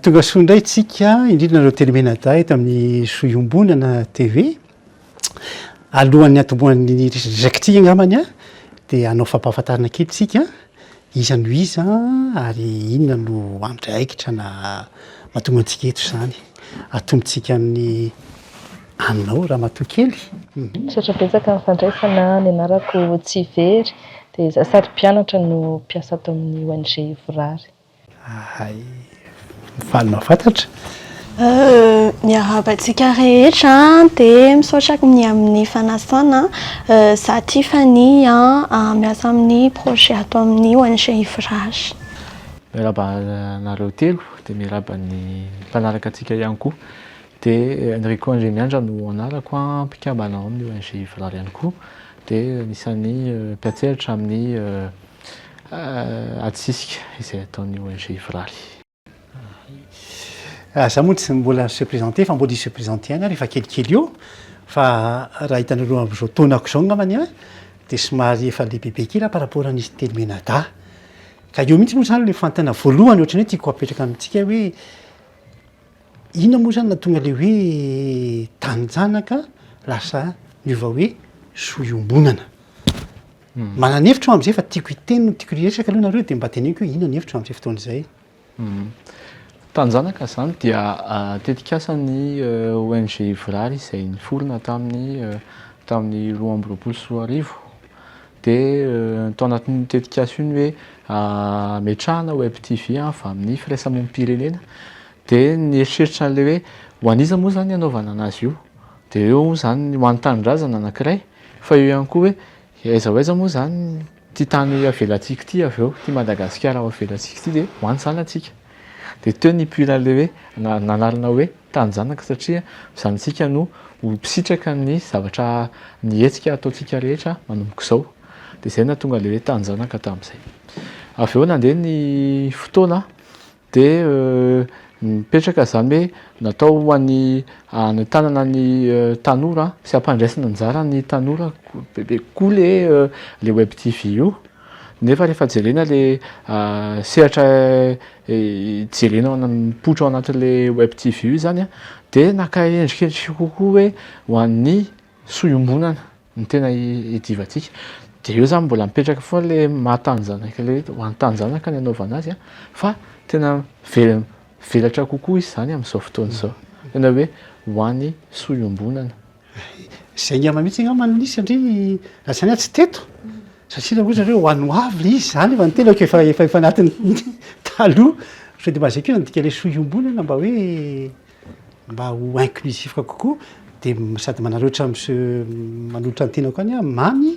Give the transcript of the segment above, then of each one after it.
Tonga soa indray tsika, indrindra nareo telo mianadahy eto amin'ny soa iombonana TV. Alohan'ny hatombohan'ny resakantsika angambany a, dia hanao fampahafantarana kely tsika, iza no iza ary inona no andraikitra na mahatonga antsika eto izany. Atombotsika amin'ny anao ramatoa kely. Misaotra betsaka amin'ny fandraisana, ny anarako Tsivery dia izaho sady mpianatra no mpiasa ato amin'ny ONG Ivorary. Ahay faly mahafantatra. Miarahaba antsika rehetra dia misaotra ny amin'ny fanasana, izaho Tiffany miasa amin'ny projet ato amin'ny ONG Ivorary. Miarahaba anareo telo. Dia miarahaba ny mpanaraka antsika ihany koa. Dia Enrico Andriamiandra no anarako, mpikambana ao amin'ny ONG Valala ihany koa. Dia anisan'ny mpiantsehatra amin'ny ady sisika izay ataon'ny ONG Viraly. Za moa tsy mbola se présenter fa mbola hi se présenter ihany aho rehefa kelikely eo. Fa raha hitanareo amin'izao taonako izao angambany dia somary efa lehibebe kely aho par rapport an'izy telo mianadahy. Ka eo mihitsy moa izany ilay fanontaniana voalohany ohatran'ny hoe tiako hapetraka amintsika hoe inona moa izany nahatonga ilay hoe taninjanaka lasa niova hoe soa iombonana. Hmm. Manana hevitra aho amin'izay fa tiako hiteny no tiako hiresaka aloha nareo dia mba teneniko hoe inona ny hevitra amin'izay fotoana izay. Hmm. Tanjanaka izany dia ah, tetikasan'ny eh, ONG Vrary izay niforona tamin'ny eh, tamin'ny roa amby roapolo sy roa arivo Dia tao anatin'io tetikasa io ny hoe hametrahana web TV avy amin'ny firaisamonim-pirenena. Dia nieritreritra an'ilay hoe ho an'iza moa izany ny hanaovana an'azy io. Dia eo moa izany ho an'ny tanindrazana anankiray, fa eo ihany koa hoe aiza ho aiza moa izany ity tany avelantsika ity avy eo, ity Madagasikara ho avelantsika ity dia ho any izany atsika. Dia teo nipoiran'ilay hoe nanarina hoe. tanin-janaka satria zanatsika no ho mpisitraka amin'ny zavatra ny hetsika ataontsika rehetra manomboka izao dia izay nahatonga ilay hoe tanin-janaka tamin'izay avy eo nandeha ny fotoana dia mipetraka izany hoe natao ho an'ny hanentanana ny tanora sy hampandraisana anjara ny tanora bebe kokoa le le web tv io Nefa rehefa jerena le sehatra jerena ao mipoitra ao anatin'le web TV io zany a, de naka endrikendrika kokoa hoe ho an'ny soa iombonana ny tena idiovantsika, de eo zany mbola mipetraka foana le maha tanjanaka le hoe ho an'ny tanjanaka ny anaovana azy a, fa tena very mivelatra kokoa izy zany amin'izao fotoana izao, tena hoe ho an'ny soa iombonana. Izay angamba mihitsy angamba no nisy satria raha tsy anay tsy teto satria raha ohatra hoe ho an'ny hoavy ilay izy izany efa ny tena ko efa efa efa anatin'ny taloha sao dia mba izay koa no midika ilay soa iombonana mba hoe mba ho inclusif kokoa dia sady manararaotra monsieur manolotra ny tenako any aho, Mamy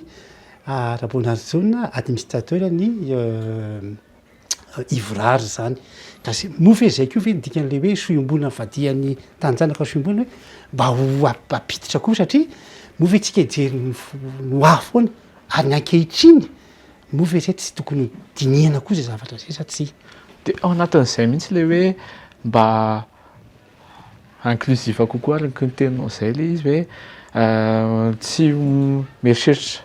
Raboanarijaona administrateur ny ivorary izany ka sy no fehizay ko ve ny dikany le hoe sohiombona ny vadihan'ny taninjanaka sohiombona hoe mba ho ampiditra koa satria moa ve tsika hijery ny ho avy foana ary ny ankehitriny moa ve zay tsy tokony dinihana koa zay zavatra zay sa tsia de ao anatin'izay mihitsy le hoe mba inclusif kokoa araka ny teninao izay ilay izy hoe tsy mieritreritra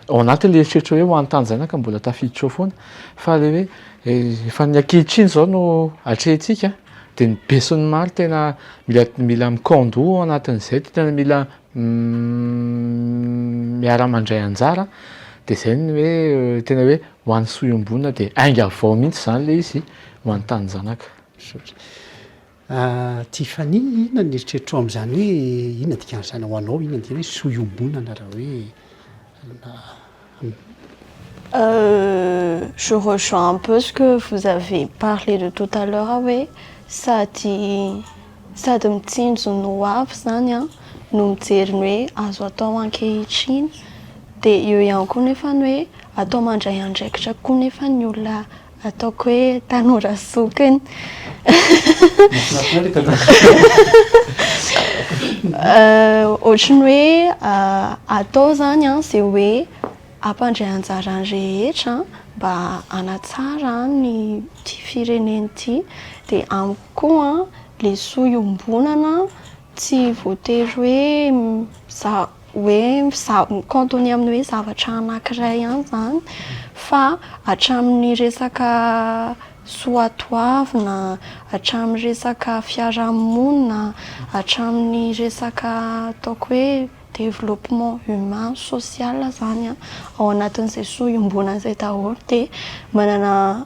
ao anatin'ilay eritreritra hoe ho an'ny tanin-janaka mbola tafiditra ao foana fa ilay hoe efa ny ankehitriny izao no atrehintsika dia ny besin'ny maro tena mila mila mi-kandò ao anatin'izay dia tena mila miara-mandray anjara dia izay ny hoe tena hoe ho an'ny soa iombonana dia ainga avy ao mihitsy izany ilay izy ho an'ny tanin-janaka. Misaotra. Tiffany, inona ny eritreritro amin'izany hoe inona dikan'izany ho anao, inona ny dikan'ny hoe soa iombonana raha hoe alona. Je rejoins un peu ce que vous avez parlé de tout à l'heure hoe sady sady mitsinjo ny ho avy zany an, no mijery ny hoe azo atao ankehitriny, dia eo ihany koa nefa ny hoe atao mandray andraikitra koa nefa ny olona Ataoko hoe tanora zokiny. Ohatry ny hoe atao izany izay hoe ampandray anjara ny rehetra mba hanatsara an'ity firenena ity. Dia amiko koa lesoa iombonana tsy voatery hoe za. hoe mi-cantonner amin'ny hoe zavatra anankiray ihany izany fa hatramin'ny resaka soatoavina, hatramin'ny resaka fiarahamonina, hatramin'ny resaka ataoko hoe développement humain, social izany an, ao anatin'izay soa iombonana izay daholo dia manana.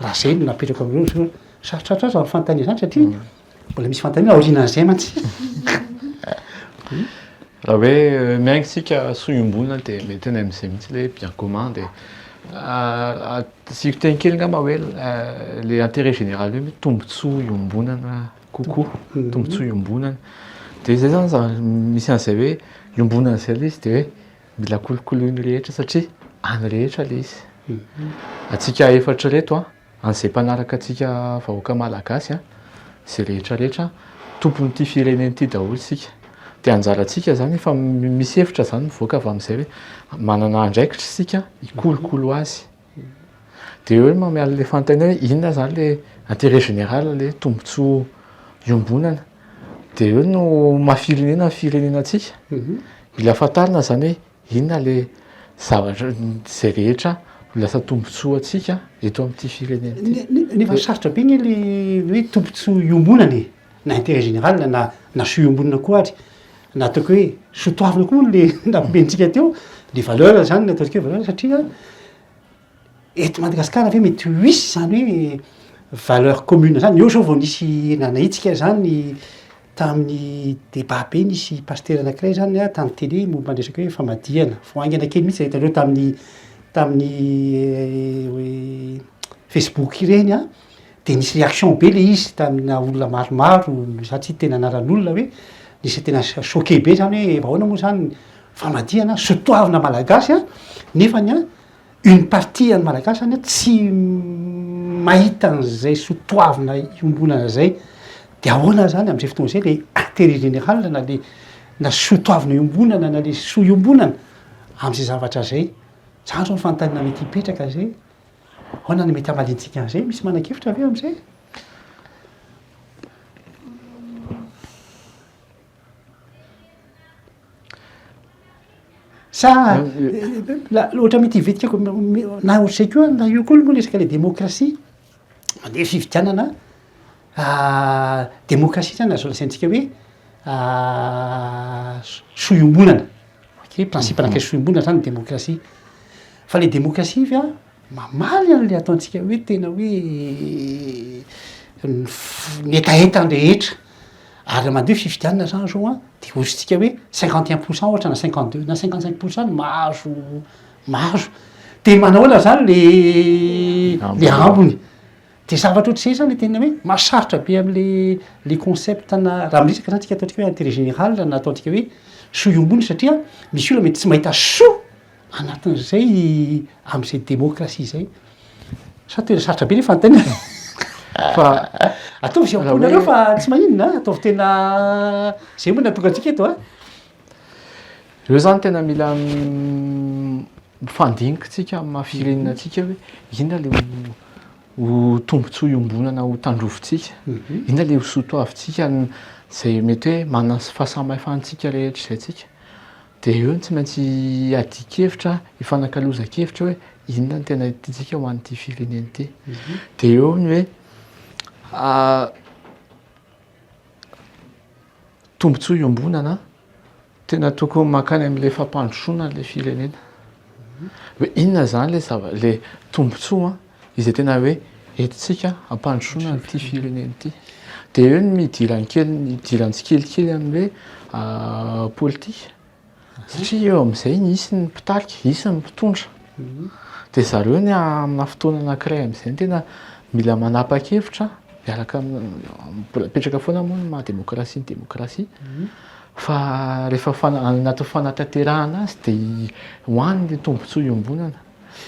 Raha izay no napetrako aminareo izao, sarotrarotra aza ny fanontaniana izany satria mbola misy fanontaniana aorianan'izay mantsy. Raha hoe euh, miainga isika soa iombonana dia mety any amin'izay mihitsy ilay bien commun dia ah, asiako teny kely angamba hoe euh, le intérêt général io mety tombontsoa iombonana kokoa, mhm. tombontsoa iombonana. Dia izay izany za misy an'izay hoe iombonana izay ilay izy dia hoe Mila kolokoloin'ny rehetra satria an'ny rehetra ilay izy. Antsika efatra ireto, an'izay mpanaraka antsika vahoaka malagasy, izay rehetra rehetra, tompon'ity firenena ity daholo isika. Dia anjarantsika izany, efa misy hevitra izany mivoaka avy amin'izay hoe manana andraikitra isika hikolokolo azy. Dia hoe mameaha an'ilay fanontaniana hoe inona izany ilay intérêt général, ilay tombontsoa iombonana. Dia eo no maha firenena ny firenena antsika. Mila fantarina izany hoe inona ilay zavatra, izay rehetra ho lasa tombontsoa antsika eto amin'ity firenena ity. Nefa sarotra be anie ilay hoe tombontsoa iombonana e! na interet general na na soa iombonana koa ary na ataoko hoe soa toavina koa le nampiantsika teo ny valeur zany ny ataontsika hoe valeur satria eto Madagasikara ve mety ho hisy zany hoe valeur commune zany? Eo zao vao nisy nanahitsika zany tamin'ny débat be nisy pasitera anankiray zany a tamin'ny tele momba ny resaka hoe famadihana, vao haingana kely mihitsy zay hitanareo tamin'ny tamin'ny facebook ireny a. dia nisy réaction be le izy tamina olona maromaro satria tena anaran'olona hoe nisy tena choqué be zany hoe ahoana moa zany famadihana sotoavina malagasy an nefany an une partie an'ny malagasy zany an tsy mahita an'izay sotoavina iombonana zay de ahoana zany am'zay fotoana zay le intérêt général na le na sotoavina iombonana na le soa iombonana am'zay zavatra zay zany zao ny fanontaniana mety hipetraka zay Ahoana no mety hamaliantsika an'izay? Misy manan-kevitra ve amin'izay? Sa ohatra mety hivitika ko na ohatr'izay koa na io koa moa resaka ilay demokrasia mandeha fifidianana. Demokrasia zany azo lazaintsika hoe soa iombonana, ok, principe anankiray soa iombonana zany ny demokrasia. Fa le demokrasia ve mamaly an'le ataontsika hoe tena hoe ny f- ny hetahetan'ny rehetra? Ary raha mandeha fifidianana zany zao an, de ohatritsika hoe cinquante et un pour cent ohatra na cinquante deux na cinquante cinq pour cent no mahazo mahazo, de manahoana zany le le ambiny? Dia zavatra ohatr'izay izany ilay tena hoe mahasarotra be amin'ilay concept na raha miresaka izany isika ataontsika hoe intérêt général na ataontsika hoe soa iombonana satria misy olona mety tsy mahita soa anatin'izay amin'izay démocratie izay. Sa tena sarotra be ny fanontaniana e? Fa ataovy izay ampoinareo fa tsy maninona a, ataovy tena izay moa no nahatonga antsika eto a. Ireo izany tena mila Mifandiniky tsika amin'ny maha firenena antsika hoe inona le ho tombotsoa iombonana ho tandrovintsika, inona le ho sotoavintsika izay mety hoe manana ny fahasamihafan-tsika rehetra izay tsika. Dia eo no tsy maintsy iadian-kevitra, ifanakalozan-kevitra hoe inona no tena tiantsika ho an'ity firenena ity. Dia eo ny hoe tombotsoa iombonana. Tena tokony mankany amin'ilay fampandrosoana ilay firenena. Hoe inona izany ilay zava- ilay tombontsoa izay tena hoe entintsika hampandrosoana an'ity firenena ity. Dia eo ny idiran'ny kely ny idiran'ny tsikelikely amin'ny hoe politika. Satria eo amin'izay hisy ny mpitarika, hisy ny mpitondra. Dia zareo ny aminà fotoana anankiray amin'izay no tena mila manapa-kevitra miaraka amin'ny, mbola mipetraka foana moa ny maha-demokrasia ny demokrasia. Fa rehefa anatin'ny fanatanterahana azy dia ho any ilay tombontsoa iombonana,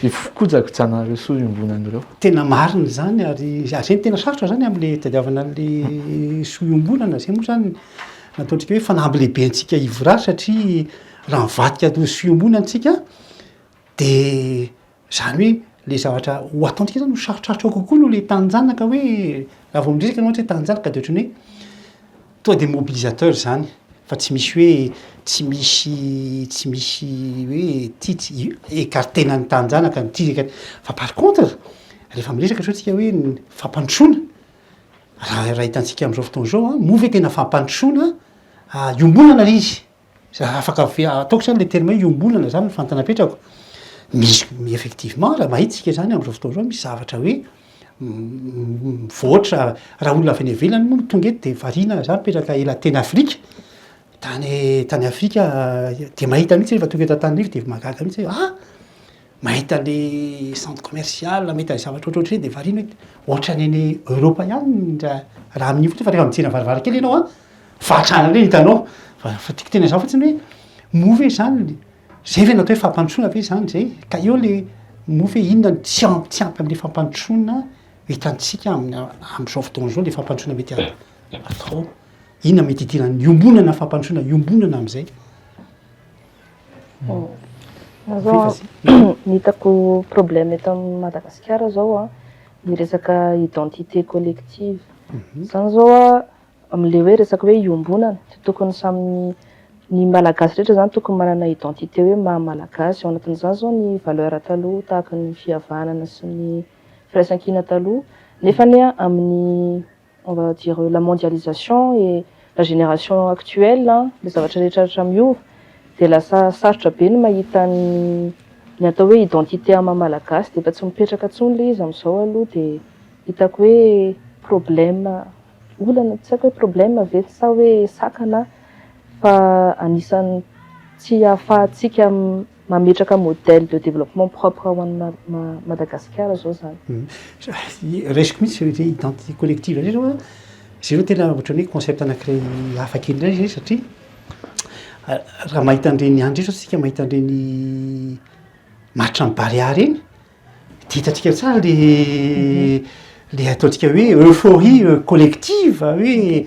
io fikojakojana ireo soa iombonana ireo. Tena marina izany ary izay no tena sarotra izany amin'ilay hitadiavana an'ilay soa iombonana. Izay moa izany no ataontsika hoe fanamby lehibe antsika hivory azy satria raha mivadika ho soa iombonana isika dia Izany hoe ilay zavatra ho ataontsika izany ho sarotrarotro kokoa noho ilay tanin'ny zanaka hoe raha vao miresaka ianao ohatra hoe tanin'ny zanaka dia ohatran'ny hoe tonga dia mobilisateur izany fa tsy misy hoe tsy misy tsy misy hoe ity tsy écarter-na ny tanin-janaka ny ity écarter fa par contre rehefa miresaka izao isika hoe ny fampandrosoana raha raha hitantsika amin'izao fotoana izao an, moa ve tena fampandrosoana hiombonana ilay izy? Za afaka ataoko zany le terme hoe iombonana zany ny fantanapetrako. Misy effectivement raha mahita isika zany amzao fotoana zao misy zavatra hoe mivoatra raha olona avy any ivelany moa no tonga eto de variana za mipetraka ela teny afrika tany tany afrika de mahita mihitsy rehefa tonga eto antanrivo de mahagaga mihitsy hoe ah! Mahita le centre commercial, mahita ny zavatra ohatrohatry ireny dia variana hoe ohatran'ny any Europe ihany raha raha amin'io fotsiny fa rehefa mijery ny varavarakely ianao an, fahantrana indray no hitanao. Fa fa tiako tenenina izany fotsiny hoe moa ve izany izay ve no atao hoe fampandrosoana ve izany izay? Ka eo le moa ve inona no tsy am- tsy ampy amin'ilay fampandrosoana hitantsika amin'ny amin'izao fotoana izao ilay fampandrosoana mety a- atao? Inona mety hidiran'ny iombonana fampandrosoana iombonana amin'izay? Ny hitako problème eto amin'i Madagasikara izao an, ny resaka identité collective. Izany izao an, amin'ilay hoe resaka hoe iombonana dia tokony samy ny Malagasy rehetra izany tokony manana identité hoe maha Malagasy. Ao anatin'izany izao ny valeur taloha tahaka ny fihavanana sy ny firaisankina taloha, nefany an amin'ny On va dire la mondialisation et la génération actuelle an, le zavatra rehetra rehetra miova dia lasa sarotra be ny mahita ny atao hoe identité ama malagasy dia efa tsy mipetraka tsony le izy amizao aloha dia hitako hoe problème olana tsy aiko hoe problème ve sa hoe sakana fa anisany tsy ahafahantsika mametraka modèle de développement propre ho an'i Madagasikara zao zany. Raisiko mihitsy zay hoe identité collective zay zao an, zay zao tena ohatran'ny hoe concept anankiray hafa kely indray zay satria raha mahita an'ireny any indray zao isika mahita an'ireny maritran'i Barea ireny, Dia hitantsika tsara le le ataontsika hoe euphorie collective hoe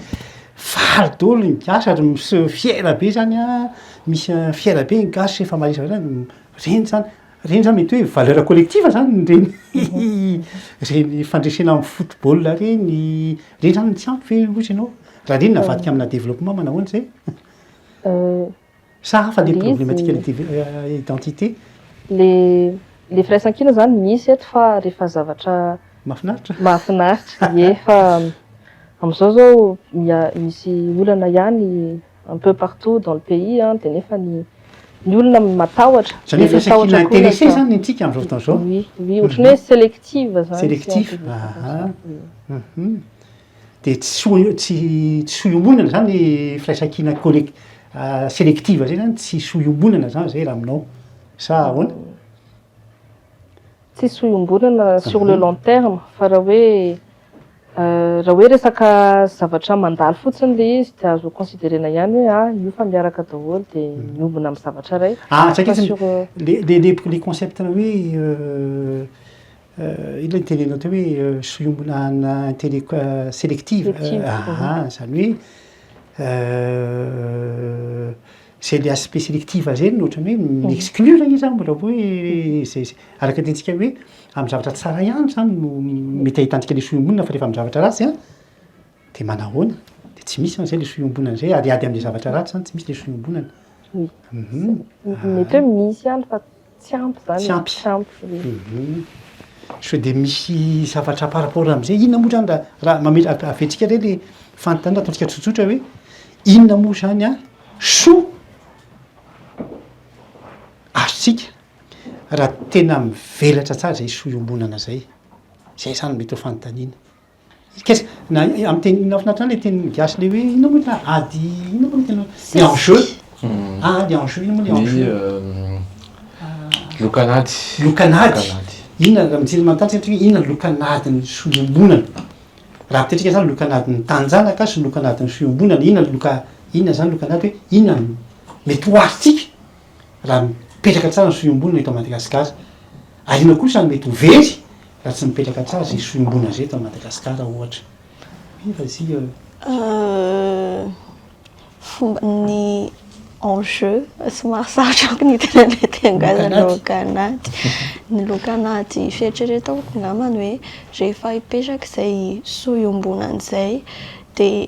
faly daholo ny gasy ary miseho fiera be zany a, misy fiera be ny gasy rehefa maharesy an'zany hoe reny zany, reny zany mety hoe valeur collective zany reny reny fandresena amin'ny football reny, reny zany tsy ampy ve hozy ianao? Raha reny navadika amina développement manao ahoana zay? Sa hafa le problematika ny identité? Le le firaisankina zany misy eto fa rehefa zavatra mahafinaritra mahafinaritra ie fa amizao zao misy olana ihany un peu partout dans le pays an de nefa ny ny olona matahotra zany hoe firaisankina intéressé zany ny antsika amizao fotoana zao oui oui ohatran'ny hoe selective zany selective aha Dia tsy ho tsy tsy ho iombonana izany ny firaisankina collec- selective izay izany, tsisy ho iombonana izany izay raha aminao sa ahoana? Tsisy ho iombonana sur le long terme fa raha hoe raha hoe resaka zavatra mandalo fotsiny ilay izy dia azo considerena ihany hoe ah io fa miaraka daholo dia miombona amin'ny zavatra iray. Ah, tsy haiko fa sur le le le concept-na hoe Ilay nitenenao teo hoe solombona ana intellectuel selective, aha, izany hoe izay le aspect selective izay no ohatran'ny hoe mi-exclure izy izany mbola hoe izay araka ny tentsika hoe amin'ny zavatra tsara ihany izany no mety ahitantsika ilay solombona fa rehefa amin'ny zavatra ratsy an, dia manahoana? Dia tsy misy izany izay ilay solombonana izay ary ady amin'ny zavatra ratsy izany tsy misy ilay solombonana. Mety hoe misy ihany fa. Tsy ampy zany Tsy ampy. Tsy ampy e. Hum. Sao dia misy zavatra par rapport amin'izay. Inona moa zany raha raha mamela ave- aventsika re le fanontaniana ataontsika tsotsotra hoe inona moa zany an soa azontsika raha tena mivelatra tsara izay soa iombonana izay. Izay zany mety ho fanontaniana. Kes, na amin'ny teny mahafinaritra ahy ilay teny gasy ilay hoe inona moa ilay ady inona moa ilay teny hoe enjeu, ady enjeu inona moa ilay enjeu? Lokan'ady. Lokan'ady. Inona raha mijery manontany isika hoe inona ny lokan'adin'ny fiombonana? Raha ampitantsika izany lokan'adin'ny taninjanaka sy ny lokan'adin'ny fiombonana, inona ny loka, inona izany lokan'ady hoe inona no mety ho adintsika? raha mipetraka tsara ny sohiombonana eto Madagasikara. Ary inona kosa no mety ho very raha tsy mipetraka tsara izay sohiombonana izay eto Madagasikara ohatra? Io fa izio eo. Fomba ny enjeu somary sarotra amiko ny tena mety hangazana loka anaty. Ny loka anaty fieritreretako angambany hoe rehefa hipetraka izay sohiombonana izay dia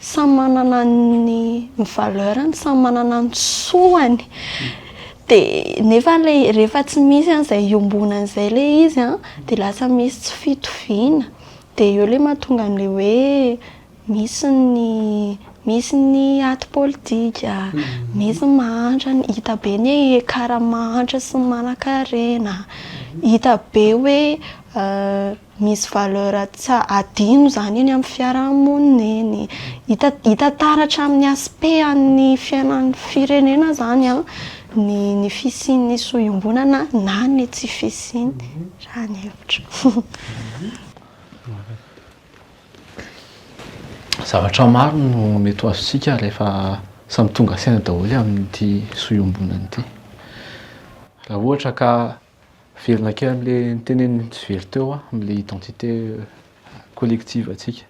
Samy manana ny ny valeur-ny, samy manana ny soany. Dia nefa ilay rehefa tsy misy an izay iombonana izay ilay izy an, dia lasa misy tsy fitoviana. Dia eo ilay mahatonga an'ilay hoe misy ny misy ny aty politika, misy ny mahantra, hita be ny écart amin'ny mahantra sy ny manankarena. Hita be hoe Misy valeur tsy hadino izany eny amin'ny fiarahamonina eny. Hita hita taratra amin'ny aspect an'ny fiainan'ny firenena izany an, ny ny fisian'ny so iombonana na ny tsy fisiany, raha ny hevitro. Zavatra maro no mety ho azontsika rehefa samy tonga saina daholo amin'ity so iombonana ity. Raha ohatra ka Miverina kely amin'ilay niteneniny tsy very teo aho, amin'ilay identité collective antsika.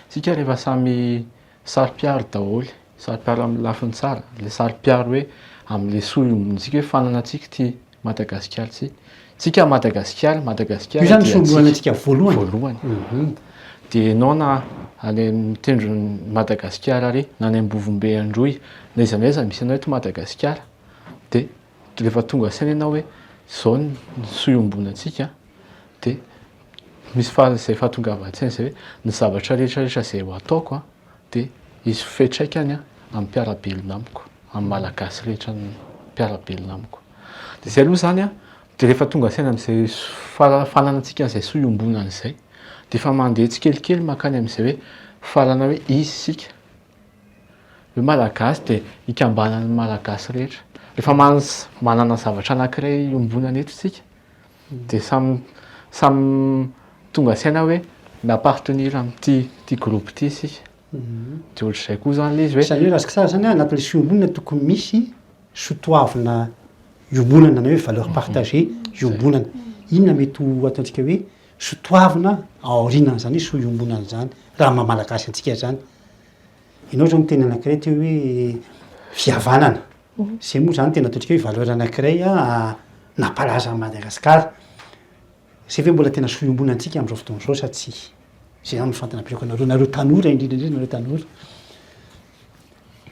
Isika rehefa samy saro-piaro daholo, saro-piaro amin'ny lafiny tsara, ilay saro-piaro hoe amin'ilay soa iombonantsika hoe fanana antsika ity Madagasikara ity. Isika Madagasikara, Madagasikara dia antsika. Io izany no soa iombonantsika voalohany. Voalohany. Dia ianao na any amin'ny tendron'i Madagasikara ary, na any Ambovombe Androy, na aiza na aiza misy anao eto Madagasikara, dia Rehefa tonga saina ianao hoe izao ny soa iombonantsika dia misy izay fahatongavan-tsaina izay hoe ny zavatra rehetrarehetra izay ho ataoko dia hisy ho fiantraikany amin'ny mpiara-belona amiko, amin'ny Malagasy rehetra mpiara-belona amiko. Dia izay aloha izany an, dia rehefa tonga saina amin'izay fara- fananantsika an'izay soa iombonana izay dia efa mandeha tsikelikely mankany amin'izay hoe farana hoe izy isika. Hoe Malagasy dia ikambanan'ny Malagasy rehetra. Rehefa manana zavatra anankiray iombonana eto isika dia samy samy tonga saina hoe mi-appartenir amin'ity groupe ity isika. Dia ohatr'izay koa izany ilay izy hoe. Izany hoe raha tsara izany anatin'ilay fiombonana tokony misy sotoavina iombonana na hoe valeur partagée iombonana. Inona mety ho ataontsika hoe sotoavina aorianan'izany hoe soa iombonana izany raha maha Malagasy antsika izany? Ianao izao miteny anankiray teo hoe fihavanana. Izay moa izany tena ataontsika hoe valeur anankiray nampalaza an'i Madagasikara. Izay ve mbola tena soa iombonantsika amin'izao fotoana izao sa tsia? Izay izany no fantinam-pinoako anareo, nareo tanora indrindra indrindra nareo tanora.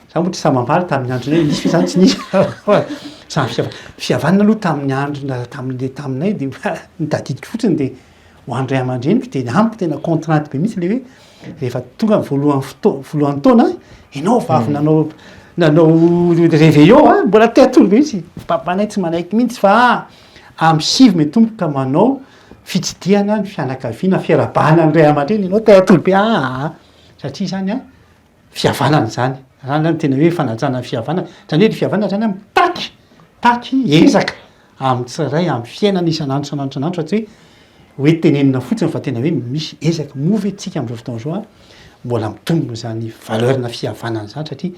Izaho moa tsy samy hamaly tamin'ny andronay nisy ve izany tsy nisy. Samy fihavanana aloha tamin'ny andronay tamin'ilay taminay dia ny tadidiko fotsiny dia ho an'ny ray aman-dreniko dia amiko tena contrainte be mihitsy le hoe rehefa tonga ny voalohany fotoana voalohany taona ianao vavy hmm. nanao nanao réveillon a mbola te atolo be mihitsy papanay tsy manaiky mihitsy fa amin'ny sivy me tompo ka manao fitsidihana ny fianakaviana fiarahabana ny ray aman-dreny ianao te atolo be aa ah, ah, ah. satria izany a fihavanana izany raha angah ny tena hoe fanajana ny fihavanana izany hoe ny fihavanana izany a mitaky mitaky ezaka amin'ny tsirairay amin'ny fiainana isan'andro isan'andro isan'andro fa tsy hoe hoe tenenina fotsiny fa tena hoe misy ezaka moa ve tsika am'zao fotoana zao a mbola mitombina izany valeur na fihavanana izany satria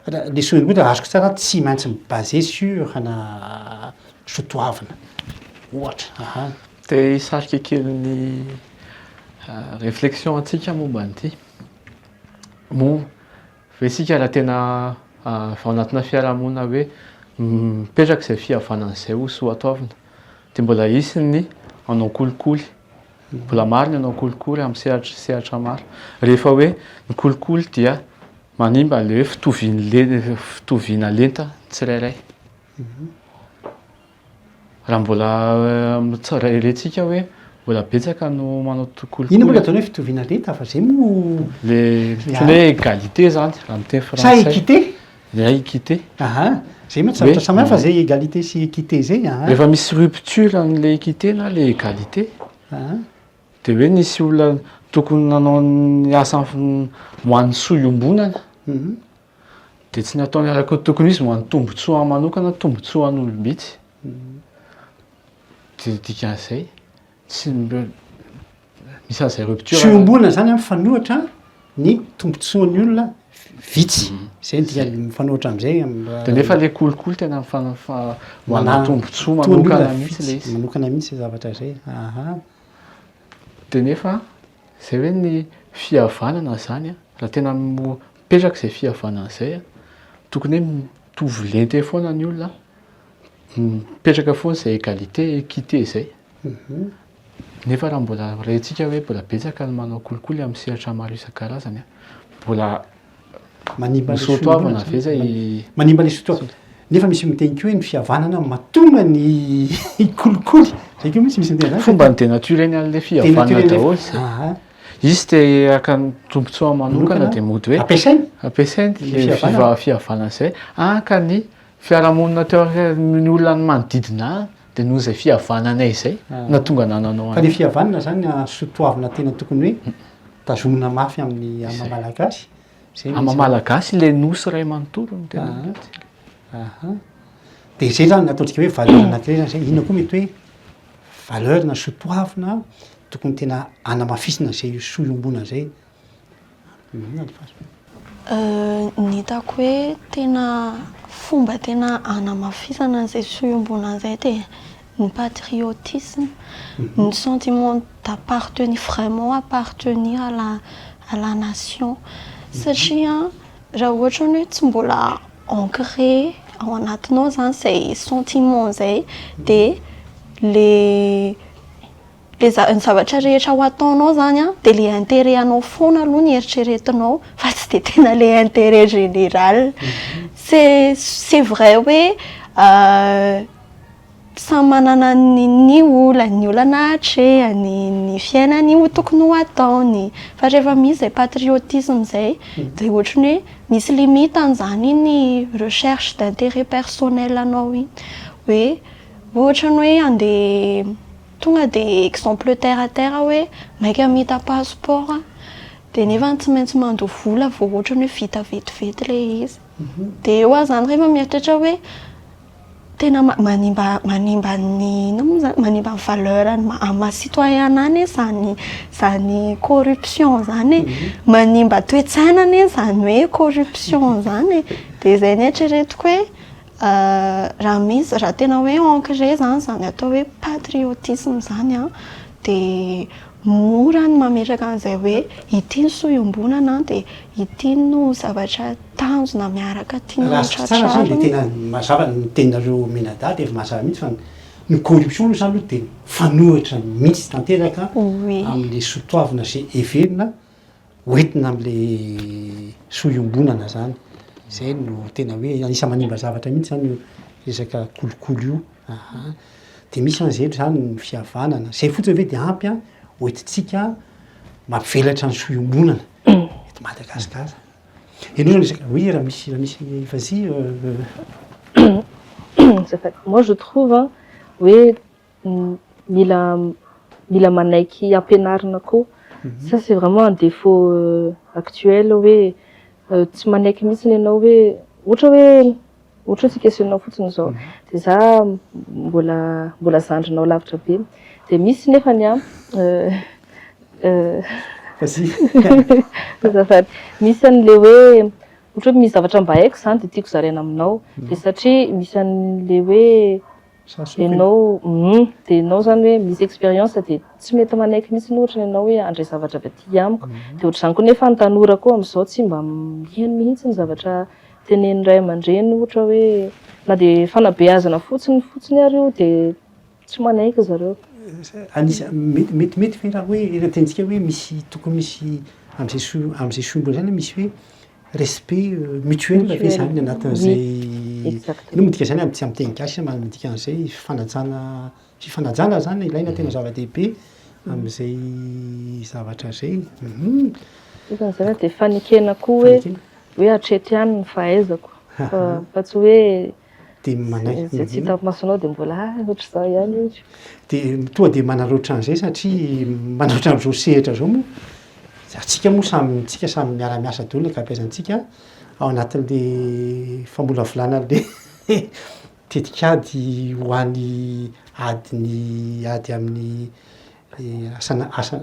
ra- le sonia koa raha azoko tsara tsy maintsy mi-baser sur ana soatoavina ohatra aha. Te hisarika kely ny reflexion antsika momba an'ity. Moa ve isika raha tena ao anatina fiarahamonina hoe mipetraka izay fihavanana izay ho soa ataovina dia mbola hisy ny hanao kolikoly, mbola maro ny hanao kolikoly amin'ny sehatra sehatra maro. Rehefa hoe ny kolikoly dia manimba an'ilay hoe fitovian' ny le- fitoviana lenta ny tsirairay. Raha mbola rerentsika hoe mbola betsaka no manao kolikoly. Inona moa ilay ataonao hoe fitoviana lenta fa izay moa. Ilay hoe égalité izany raha amin'ny teny frantsay. Sa équité? Ilay ahy équité. Aha, izay mantsy zavatra samy hafa izay égalité sy équité izay a. Rehefa misy rupture an'ilay équité na ilay égalité dia hoe nisy olona tokony nanao ny asa ho an'ny soa iombonana. Dia tsy ny ataony araka ny tokony ho izy no any tombotsoa manokana, tombotsoa an'olom-bitsy. Dia ny dikan'izay, tsy misy an'izay rupture. Tsy iombonana izany mifanohitra ny tombotsoan'ny olona vitsy. Izay no dikany, mifanohitra amin'izay. Dia nefa ilay kolikoly tena manana tombotsoa manokana mihitsy ilay izy. Manokana mihitsy izay zavatra izay, aha. Dia nefa izay hoe ny fihavanana izany an, raha tena Mipetraka izay fihavanana izay a, tokony hoe mitovy lente foana ny olona, mipetraka foana izay égalité, équité izay. Nefa raha mbola rentsika hoe mbola betsaka ny manao kolikoly amin'ny sehatra maro isan-karazany a, mbola manimba ny soatoavina ve izay? Manimba ny soatoavina. Nefa misy miteny koa hoe ny fihavanana mahatonga ny kolikoly. Izay koa misy misy miteny izany. Fomban'ny dénaturer-ny an'ilay fihavanana daholo izay. Izy te haka ny tombontsoa manokana dia mody hoe ampiasainy ampiasainy ilay fiva- fihavanana izay haka ny fiarahamonina teo amin'ny olona ny manodidina ahy dia noho izay fihavananay izay no tonga nananao Fa ilay an'ahy. fihavanana izany no sotoavina tena tokony hoe tazomina mafy amin'ny amin'ny maha malagasy. Izay no Amin'ny maha isan'ny- malagasy ilay nosy iray manontolo no tena Aha. mety. Aha. Dia izay izany no ataontsika hoe valeur anankiray izany izay. Inona koa mety hoe. valeur na soa toavina tokony tena hanamafisina izay io soa iombonana izay inona ny fahasam-, Ny hitako hoe tena fomba tena hanamafisana an'izay soa iombonana izay dia ny patriotisme, ny sentiment d'appartenir, vraiment appartenir à la à la nation satria Raha ohatra ny hoe tsy mbola ancré ao anatinao izany izay sentiment izay dia ilay ilay ny zavatra rehetra ho ataonao izany an, dia ilay intérêt anao foana aloha no eritreretinao fa tsy dia tena ilay intérêt général. C'est c'est vrai hoe Samy manana ny ny olany, ny olana hatrehany, ny fiainany ho tokony ho ataony. Fa rehefa misy izay patriotisme izay dia ohatry ny hoe misy limite an'izany iny recherche d'intérêt personnel anao iny. Hoe ohatra ny hoe handeha tonga dia exemple terre à terre hoe maika mita passeport aho dia nefa tsy maintsy mandoa vola vao ohatra ny hoe vita vetivety ilay izy. Dia eo aho izany rehefa mieritreritra hoe Tena manimba manimba ny inona moa izany? Manimba ny valeur an'ny maha maha citoyen anie izany izany corruption izany e. Manimba toe-tsaina anie izany hoe corruption izany e. Dia izay nieritreretiko hoe raha misy raha tena hoe ancré izany izany atao hoe patriotisme izany an, dia Mora ny mametraka an'izay hoe ity ny soa iombonana an, dia ity no zavatra tanjona miaraka tiana ho tratrarina. Raha azoko tsara izany dia tena mazava ny teninareo mianadahy dia efa mazava mihitsy fa ny corruption aloha izany aloha dia mifanohitra mihitsy tanteraka amin'ilay soa toavina izay heverina ho entina amin'ilay soa iombonana zany, zay no tena hoe anisan'ny manimba zavatra mihitsy zany io resaka kolikoly io aha, de misy zany zay zany ny fihavanana, zay fotsiny ve de ampy an ho entintsika mampivelatra ny soa iombonana eto Madagasikara, ianao zany resaka oui raha misy raha misy vas-y. Azafady, moi je trouve an hoe. mila mila manaiky ampianarina koa ça c'est vraiment un défaut actuel hoe tsy manaiky mihitsy ianao hoe ohatra hoe ohatra hoe tsika sy ianao fotsiny izao dia za mbola mbola zandrinao lavitra be dia misy nefa ny an azafady misy an'ilay hoe ohatra hoe misy zavatra mba haiko izany dia tiako zaraina aminao dia satria misy an'ilay hoe Ianao, humm, dia ianao izany hoe misy expérience dia tsy mety manaiky mihitsy ohatra ianao hoe handray zavatra avy aty amiko, dia ohatr'izany koa nefa ny tanora koa amin'izao tsy mba miheno mihitsy ny zavatra tenenin'ny ray aman-dreny ohatra hoe na dia fanabeazana fotsiny fotsiny ary io dia tsy manaiky zareo. Anisany, mety mety ve raha hoe raha tentintsika hoe misy tokony misy amin'izay sombina izay misy hoe Respect mutuel ve zany ny anatin'izay inona midika izany amin'ny tsy amin'ny teny gasy na midika an'izay fifanajana fifanajana zany no ilaina tena zava-dehibe amin'izay zavatra izay Isan'ny izay na dia fanekena koa hoe hoe hatreto ihany ny fahaizako fa fa tsy hoe Dia manaiky Izay tsy hitan'ny masonao dia mbola ah, ohatr'izao ihany izy. Dia tonga dia manao ohatran'izay satria manao ohatran'izao sehatra izao moa. Antsika moa samy, antsika samy miara-miasa daholo ny ankabeazantsika ao anatin'ilay famolavolana an'ilay tetikady ho an'ny ady ny, ady amin'ny asana, asa.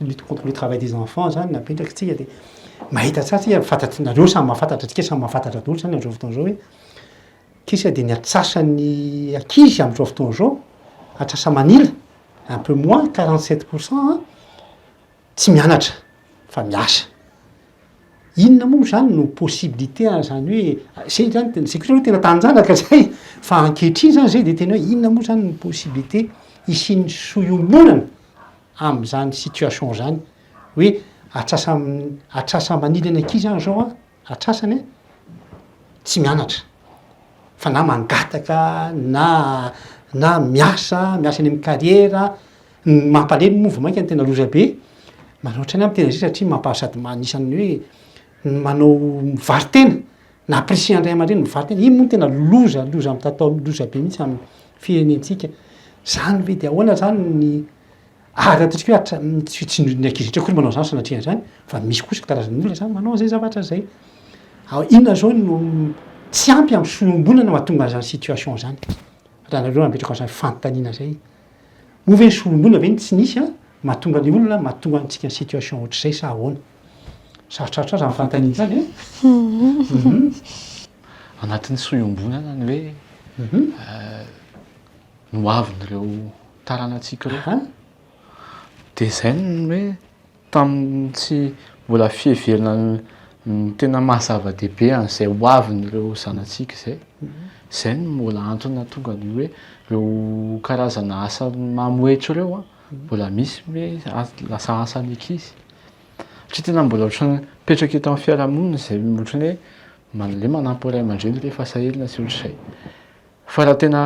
lutte contre le travail des enfants zany napetraky tsika de mahita tsara tsika fantatry nareo samy mahafantatra tsika samy mahafantatra daholo zany amzao fotoana zao hoe kisa de ny antsasany ankizy amzao fotoana zao antsasa manila un peu moins quarante sept pour cent an tsy mianatra fa miasa inona moa zany no possibilité an zany hoe zay zany tena sekoly aloha tena tanjanaka zay fa ankehitriny zany zay de tena hoe inona moa zany ny possibilité hisian'ny soa iombonana amin'izany situation izany hoe atrasa atrasa manily ny ankizy aho zao an, atrasany an, tsy mianatra fa na mangataka na na miasa miasa any amin'ny carrière, ny mampalemy moa vao mainka ny tena loza be, manoatra ny ahy miteny an'izay satria mampaha sady anisan'ny hoe ny manao mivaro-tena Na prix andray aman-dreny mivarotra eny, iny moa no tena loza, loza mitatao amin'ny loza be mihitsy amin'ny firenentsika. Izany ve dia ahoana izany ny ary ataontsika hoe hatra- ny tsy tsy ny ankizy rehetra akory manao izany sanatria izany fa misy kosa karazan'olona izany manao an'izay zavatra izay. Ao inona izao no tsy ampy amin'ny fiombonana mahatonga an'izany situation izany? Raha nareo hametraka an'izany fanontaniana izay. Moa ve ny solombona ve no tsy nisy mahatonga ny olona mahatonga antsika situation ohatr'izay sa ahoana? Sarotrarotra zany fanontaniana zany an! Anatin'ny soa iombonana ny hoe ny ho avin'ireo taranatsika ireo. Dia izay ny hoe tamin'ny tsy mbola fiheverana ny tena maha zava-dehibe an'izay ho avin'ireo zanatsika izay. Izay no mbola antony nahatonga ny hoe ireo karazana asa mamohetsy ireo an! Mbola misy ve lasa asan'ny ankizy? Satria tena mbola ohatran'ny mipetraka eto amin'ny fiarahamonina izay ohatran'ny hoe malemy manampy ny ray aman-dreny rehefa sahirana sy ohatr'izay. Fa raha tena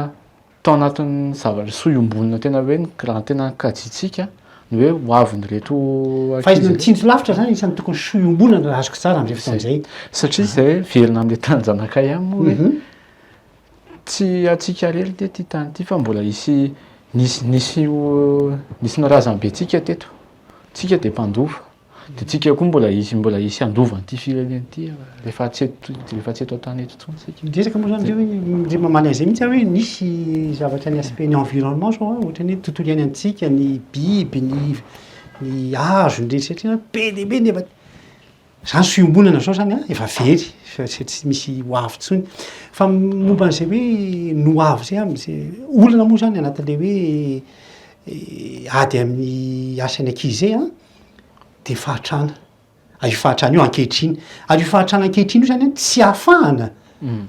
tao anatin'ny zavatra soa iombonana tena hoe raha tena kajiantsika ny hoe ho avin'ireto ankizy. Fahaizana mitsinjo lavitra izany anisan'ny tokony soa iombonana raha azoko tsara amin'izay fotoana izay. Satria izay velona amin'ilay tanin'ny zanakay ihany moa hoe Tsy antsika irery ity ity tany ity fa mbola hisy nisy nisy nisy ny razambentsika teto. Tsika dia mpandova. Dia tsika koa mbola hisy mbola hisy handova an'ity firenena ity rehefa tsy eto rehefa tsy eto an-tany eto intsony tsika. Miresaka moa izany hoe ndry mamanay izay mihitsy hoe nisy zavatra ny aspect ny environnement izao a, ohatran'ny hoe ny tontolo iainantsika, ny biby, ny ny hazo, ny rehetra rehetra be dia be nefa Zany tsy fiombonana zao zany an, efa very fa tsy tsy misy ho avy intsony. Fa momba an'izay hoe ny ho avy izay an, ze olana moa zany anatin'ilay hoe ady amin'ny asan'ny ankizy izay an, dia fahantrana, ary io fahantrana io ankehitriny, ary io fahantrana ankehitriny io zany an tsy ahafahana,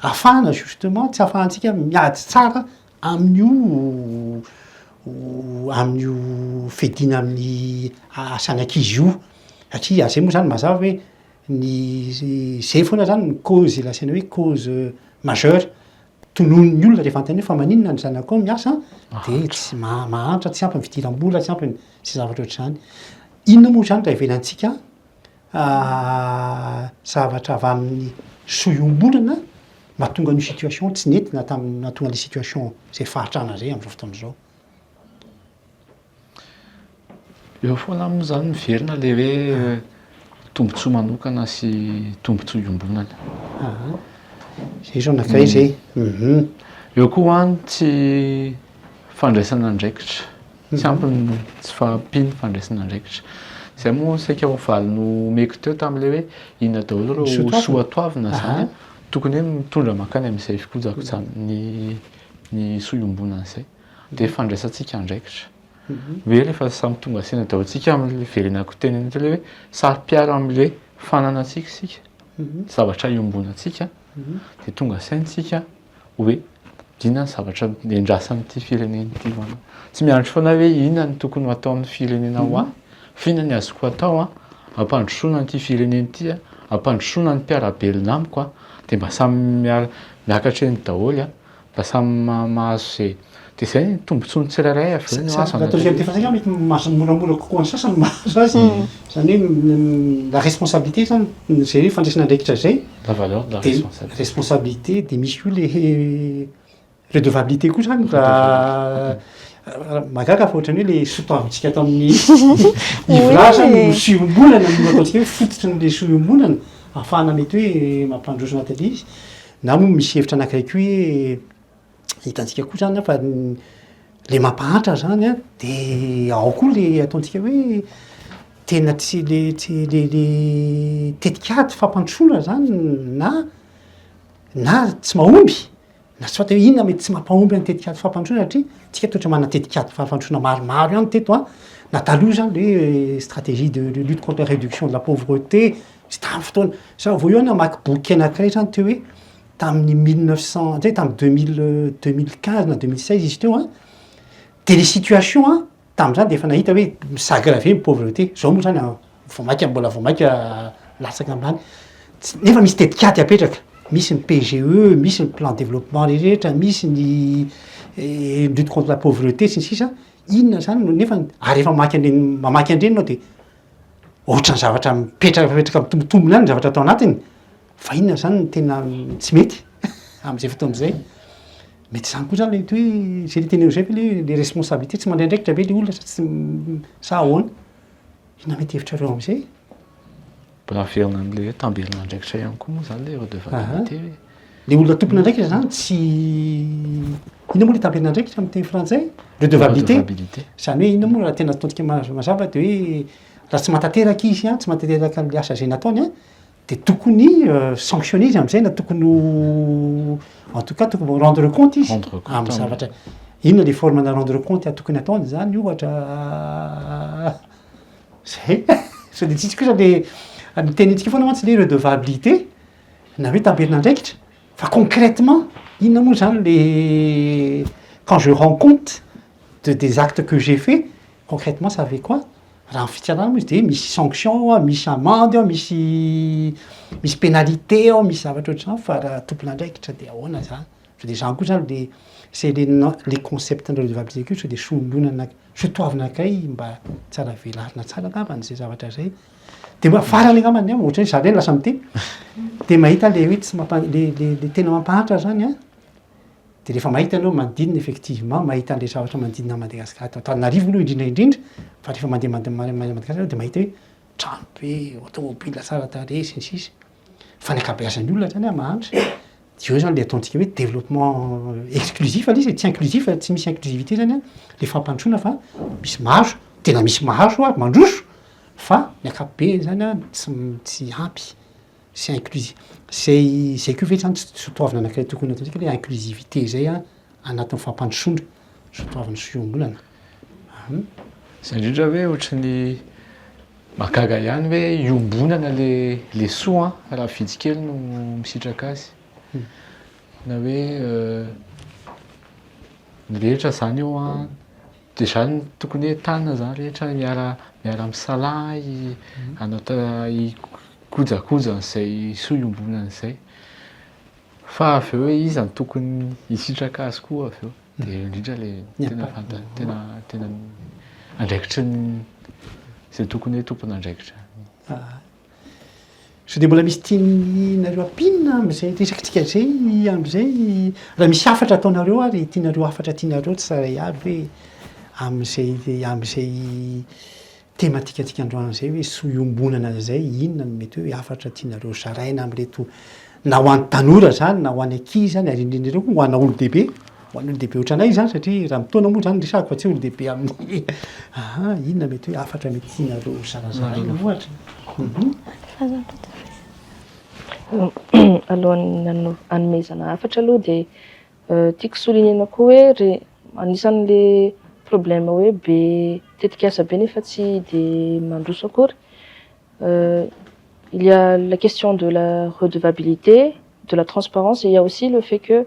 ahafahana justement, tsy ahafahantsika miady tsara Amin'io amin'io fiadiana amin'ny asan'ny ankizy io, satria zay moa zany mazava hoe ny zay foana zany no cause lazaina hoe cause majeure tononon'ny olona rehefa anontaniana hoe fa maninona ny zanakao miasa de tsy maha- mahantra, tsy ampy ny fidiram-bola, tsy ampy ny sy ny zavatra ohatr'izany. Inona moa zany raha ivelantsika zavatra avy amin'ny soa iombonana mahatonga an'io situation tsy nety na tamin'ny nahatonga an'ilay situation izay fahantrana izay amin'izao fotoana izao. Eo foana aminy izany miverina ilay hoe tombontsoa manokana sy tombontsoa iombonana. Izay izao anankiray izay. Eo koa ho'a ny tsy fandraisana andraikitra. Tsy ampy ny tsy fahampian'ny fandraisan'andraikitra. Izay moa saika ho valy nomeko teo tamin'ilay hoe inona daholo ireo soa toavina izany an, tokony hoe mitondra mankany amin'izay fikojakojana ny ny soa iombonana izay. Dia fandraisantsika andraikitra. Ve rehefa samy tonga saina daholo isika amin'ilay hiverenako teny an'iny teo ilay hoe saro-piaro amin'ilay fananantsika isika, zavatra iombonantsika dia tonga saina isika. hoe inona ny zavatra endrasana amin'ity firenena ity ho'a anao. Tsy miandry foana hoe inona no tokony ho ataon'ny firenena ho ahy fa inona no azoko atao hampandrosoana an'ity firenena ity, hampandrosoana ny mpiara-belona amiko dia mba samy miara miakatra eny daholo mba samy mahazo izay Dia izay ny tombontsoan'ny tsirairay avy eo ny ho azy anareo. Raha tena efa mety mahazo moramora kokoa ny sasany mahazo azy. Izany hoe la responsabilité izany, izay hoe fandraisana andraikitra izay. La valeur de la responsabilité. Responsabilité dia misy koa ilay redevabilité koa izany raha mahagaga fa ohatran'ny hoe ilay soa toavintsika tamin'ny Ivola izany no soa iombonana no ataontsika hoe fototry ny soa iombonana ahafahana mety hoe mampandroso na tena izy. Na moa misy hevitra anankiray koa hoe. hitantsika koa zany fa le mampahantra zany a de ao koa le ataontsika hoe tena tsy le tsy le le tetikady fampandrosoana zany na na tsy mahomby na soit hoe inona mety tsy mampahomby ny tetikady fampandrosoana satria tsika toa ohatry manana tetikady fampandrosoana maromaro ihany teto a na taloha zany le hoe stratégie de de lutte contre la réduction de la pauvreté sy tamin'ny fotoana sa vao eo aho namaky boky anankiray zany teo hoe tamin'ny mille neuf cent, hatria tamin'ny deux mille, deux mille quinze na deux mille seize izy teo an, dia ilay situation an, tamin'izany dia efa nahita hoe mi-s'aggraver ny pauvreté, izao moa izany vao mainka mbola vao mainka latsaka ambany, tsy, nefa misy tetikady apetraka, misy ny PGE, misy ny plan développement rehetra, misy ny lutte contre la pauvreté sy ny sisa, inona izany no nefa, ary rehefa mamaky an'ireny, mamaky an'ireny ianao dia ohatran'ny zavatra mipetrapetraka mitombotombina ihany ny zavatra ato anatiny. Fa inona izany no tena tsy mety amin'izay fotoana izay? Mety izany koa izany ilay mety hoe izay ilay tenenin'izay ve ilay hoe le responsabilité, tsy mandray andraikitra ve ilay olona sa tsy sa ahoana? Inona mety hevitrareo amin'izay? Mbola averina amin'ilay hoe tamberin'andraikitra ihany koa moa izany ilay redevabilité ve? Ilay olona tompon'andraikitra izany tsy inona moa ilay tamberin'andraikitra amin'ny teny frantsay? Redevabilité. Redevabilité. Izany hoe inona moa raha tena ataontsika ma- mazava dia hoe raha tsy mahatanteraka izy an, tsy mahatanteraka ilay asa izay nataony an, Dia tokony sanctionner izy amin'izay na tokony ho en tout cas tokony ho rendre compte izy Rendre compte amin'ny amin'ny- zavatra. Inona ilay forme-na rendre compte tokony ataony izany ohatra? Izay. Sao dia tsisy kosa ilay, ny tenintsika foana mantsy ilay redevabilité na hoe tamberin'andraikitra. Fa concrètement, inona moa izany ilay quand je rends compte de des actes que j'ai fait? Concrètement ça veut quoi? Raha amin'ny fitsarana moa izy dia misy sanction ao, misy amende ao, misy misy pénalité ao, misy zavatra ohatr'izany fa raha tompon'andraikitra dia ahoana izany? Sao dia izany koa izany le c'est le non le concept ny redevabilité koa sao dia solonana sao toavina kay mba tsara velarina tsara angambany izay zavatra izay. Dia mba farany angambany ny ahy ohatry ny hoe za indray no lasa miteny dia mahita le hoe tsy mampa- le le le tena mampahantra izany an! dia rehefa mahita anao manodidina effectivement mahita an'ilay zavatra manodidina an'i Madagasikara ato Antananarivo aloha indrindra indrindra fa rehefa mandeha mande- ma- ma- Madagasikara ianao dia mahita hoe trano be, automobile tsara tarehy sy ny sisa fa ny ankabeazan'ny olona hatrany ary mahantra dia eo izany ilay ataontsika hoe développement exclusif ilay izy e, tsy inclusif, tsy misy inclusivité izany an, ilay fampandrosoana fa misy mahazo, tena misy mahazo ary mandroso fa ny ankapobeny izany an tsy m- tsy ampy. sy inclusi-, zay zay koa ve zany tsy tsy ho toavina anankiray tokony atao tsika le inclusivité zay an anatin'ny fampandrosoana sy ho toavin'ny sy fiongolana an. Zay indrindra hoe ohatry ny mahagaga ihany hoe iombonana le le soa an raha vitsy kely no misitraka azy na hoe ny rehetra zany eo an Dia izany no tokony hoe tana izany rehetra miara miara misalaha hanao hikojakoja an'izay soa iombonana izay. Fa avy eo hoe iza no tokony hisitraka azy koa avy eo. Dia eo indrindra ilay tena fanta- tena tena andraikitry ny izay tokony hoe tompon'andraikitra. Sao dia mbola misy tianareo hampinina amin'izay resakitsika izay amin'izay? Raha misy hafatra ataonareo ary tianareo hafatra tianareo tsarahay avy hoe amin'izay amin'izay temantikantsika androany izay hoe soa iombonana izay inona no mety hoe hafatra tianareo zaraina amin'ireto na ho an'ny tanora izany na ho an'ny ankizy izany ary indrindra indrindra koa ho ana olon-dehibe. Ho an'ny olon-dehibe ohatranay izany satria raha mitaona moa izany resahako fa tsy olon-dehibe amin'ny aha inona mety hoe hafatra mety tianareo ho zarazaraina ohatra. Alohan'ny hanao hanomezana hafatra aloha dia tiako souligner-na koa hoe re- anisan'le problème hoe be tetikasa be nefa tsy de mandroso akory il y a la question de la redevabilité, de la transparence et il y a aussi le fait que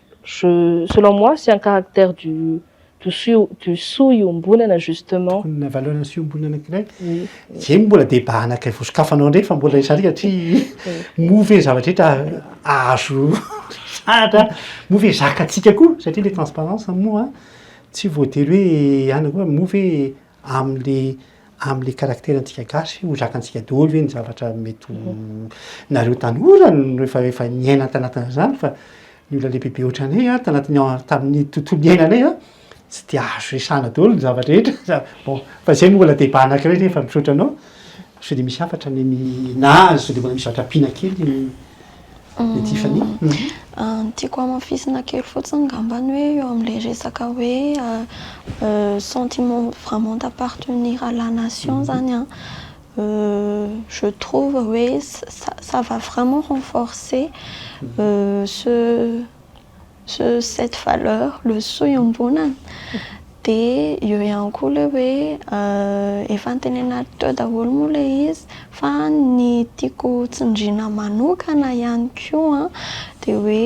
Je selon moi c'est un caractère du du sio du soa iombonana justement. Tokony na valeur ny soa iombonana anankiray. Zeny mbola débat anankiray vao sokafanao indray fa mbola izany satria moa ve ny zava-drehetra azo resahatra, moa ve zakatsika koa satria le transparence moa tsy voatery hoe ihany koa moa ve Amin'le amin'le caractère antsika gasy ho zakantsika daholo ve ny zavatra mety ho nareo tanora no efa efa niaina tanatin'izany fa ny olona lehibe be otranay a tanatin'ny an tamin'ny tontolo niainanay a tsy de azo resahana daholo ny zava drehetra za bon fa zay no mbola débat anakiray nefa misaotra anao sao de misy hafatra ny ny na sao de mbola misy zavatra ampiana kely ny Ny Tiffany? Ny tiako hamafisina kely fotsiny ngambany hoe eo amin'ilay resaka hoe sentiment vraiment d'appartenir à la nation zany an, je trouve hoe ça va vraiment renforcer ce. Sur cette valeur, le soa iombonana, dia eo ihany koa ilay hoe efa notenenako teo daholo moa ilay izy fa ny tiako tsindriana manokana ihany koa dia hoe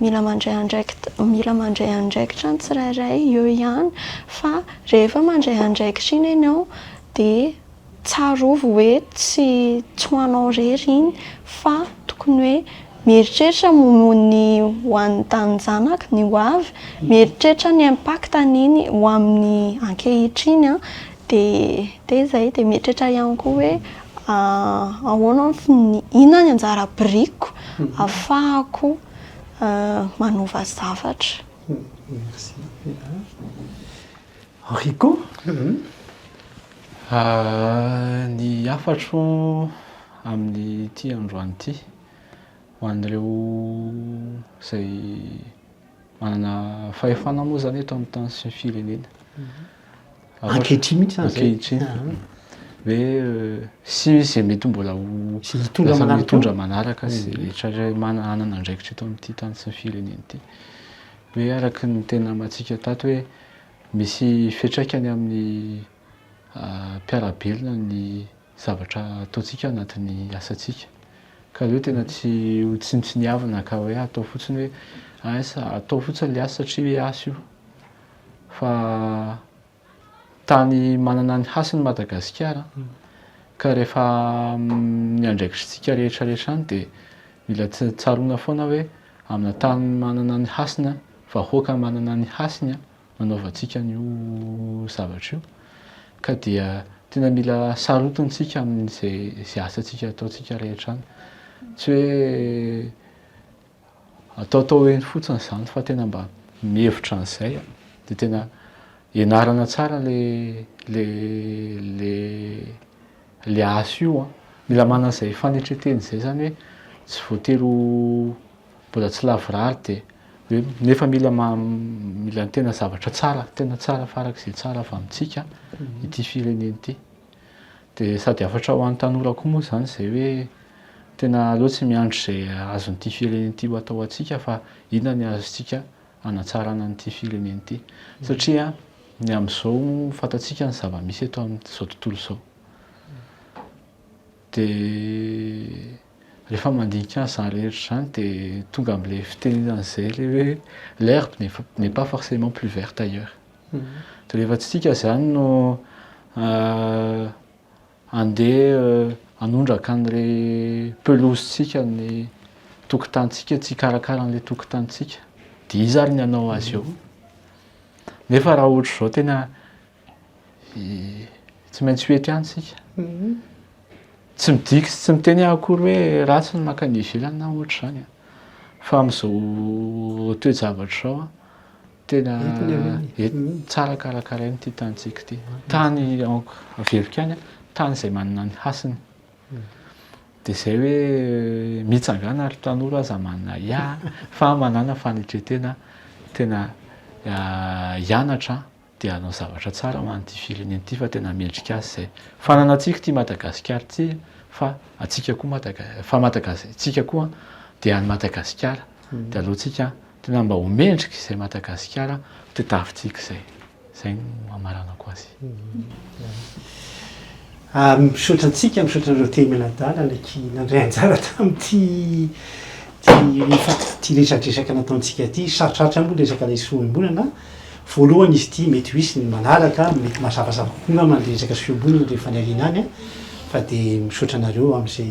mila mandray andraikitra mila mandray andraikitra ny tsirairay eo ihany fa rehefa mandray andraikitra iny ianao dia Tsarovy hoe tsy tsy ho anao irery iny fa tokony hoe mieritreritra momba ny ho an'ny taninjanaka, ny ho avy, mieritreritra ny impact-n'iny ho amin'ny ankehitriny an, dia dia izay, dia mieritreritra ihany koa hoe ahoana ny fi, inona ny anjara birikiko ahafahako manova zavatra. Merci. Rico, ny hafatro amin'ity androany ity ho an'ireo izay manana fahefana moa izany eto amin'ny tany sy ny firenena. Ankehitriny mihitsy izany izay. Ankehitriny. Hoe sy misy izay mety mbola ho lasa mitondra manaraka sy rehetra hanana andraikitra eto amin'ity tany sy ny firenena ity. hoe araka ny teny lamantsika tato hoe misy fiatraikany amin'ny mpiara-belona ny zavatra ataontsika anatin'ny asantsika ka aleo tena tsy ho tsinontsiniavina ka hoe atao fotsiny hoe asa atao fotsiny ilay asa satria hoe asa io fa Tany manana ny hasiny Madagasikara ka rehefa ny andraikitr'tsika rehetra rehetra any dia mila tsaroana foana hoe amina tany manana ny hasiny an, vahoaka manana ny hasiny an no anaovantsika an'io zavatra io ka dia tena mila sarotintsika amin'izay asantsika ataontsika rehetra any. Tsy hoe Ataotao eny fotsiny izany fa tena mba mihevitra an'izay dia tena ianarana tsara le le le le asa io an! Mila manana izay fanetren-tena izay zany hoe tsy voatery ho mbola tsy lavorary dia hoe nefa mila ma- mila ny tena zavatra tsara tena tsara farak'izay tsara avy amintsika ity firenena ity. Dia sady hafatra ho an'ny tanora koa moa izany izay hoe tena aleo tsy miandry izay azon'ity firenena ity ho atao antsika fa inona ny azontsika hanatsarana an'ity firenena ity. Satria ny amin'izao fantatsika ny zava-misy eto amin'izao tontolo izao. Dia rehefa mandinika an'izany rehetra izany dia tonga amin'ilay fitenenana izay ilay hoe l'herbe n'est pas forcément plus verte ailleurs. Rehefa tsy tika izany no handeha hanondraka an'ilay pelouse-tsika, ny tokotanintsika, tsy hikarakara an'ilay tokotanintsika, dia iza ary ny hanao azy eo? Nefa raha ohatra izao tena tsy maintsy ho ety ihany isika. Tsy midika sy tsy miteny aho akory hoe ratsy ny mankany ivelany na ohatra izany an, fa amin'izao toejavatra izao an. Tena tsara karakaraina ity tanintsika ity. Tany averiko ihany, tany izay manana ny hasiny. Dia izay hoe mitsangana ry tanora aza manana ya fa manana fanetren-tena tena hianatra dia hanao zavatra tsara ho an'ity firenena ity fa tena mendrika azy izay. Fananantsika ity Madagasikara ity fa antsika koa, fa Madagasikara, antsika koa dia an'i Madagasikara dia aleontsika Tena mba ho mendrika izay Madagasikara tadiavintsika izay. Izay no hamaranako azy. Misaotra antsika, misaotra anareo telo mianadahy ky nandray anjara tamin'ity ity resadresaka nataontsika ity. Sarotrarotra moa ny resaka ilay sohembolana. Voalohany izy ity mety ho hisy ny manaraka, mety mazavazava kokoa angamba ny resaka sohembolana rehefa any aoriana any fa dia misaotra anareo amin'izay.